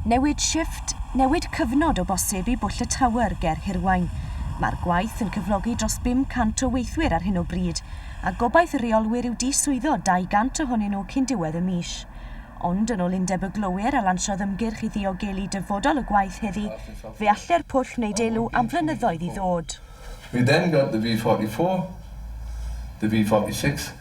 Newid shifft, newid cyfnod o bosib i Bwll y Tower ger Hirwaun. Mae'r gwaith yn cyflogi dros 500 o weithwyr ar hyn o bryd, a gobaith y rheolwyr yw diswyddo 200 ohonyn nhw cyn diwedd y mis. Ond yn ôl Undeb y Glowyr a lansiodd ymgyrch i ddiogelu dyfodol y gwaith heddi, fe allai'r pwll wneud elw am flynyddoedd i ddod. We then got the V44, the V46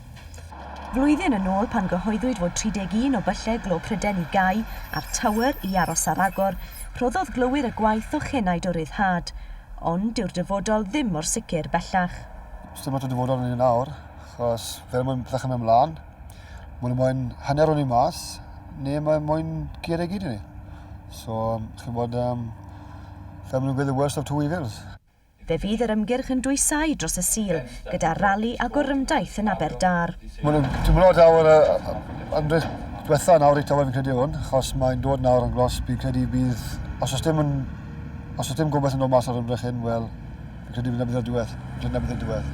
Flwyddyn yn ôl pan gyhoeddwyd fod 31 o byllau glo Prydain i gau a'r Tower i aros ar agor, rhoddodd glowyr y gwaith o chenaid o ryddhad. Ond dyw'r dyfodol ddim mor sicr bellach. Sdim ots y dyfodol i ni nawr, achos fel mae'n dechrau mynd mlaen, ma' nhw moyn hanner o ni mas, neu mae moyn curo i gyd i ni. So chi'n gwybod, fel ma' nhw'n gweud, the worst of two evils. Fe fydd yr ymgyrch yn dwysáu dros y Sul, gyda rali a gorymdaith yn Aberdâr. Maen nhw'n teimlo daw'r ymdrech diwetha nawr i tawe fi'n credu hwn, achos mae'n dod nawr yn glos, fi'n credu bydd, os oes dim yn, os oes dim gobaith yn dod mas o'r ymdrech hyn, wel, fi'n credu dyna bydd y diwedd, dyna bydd y diwedd.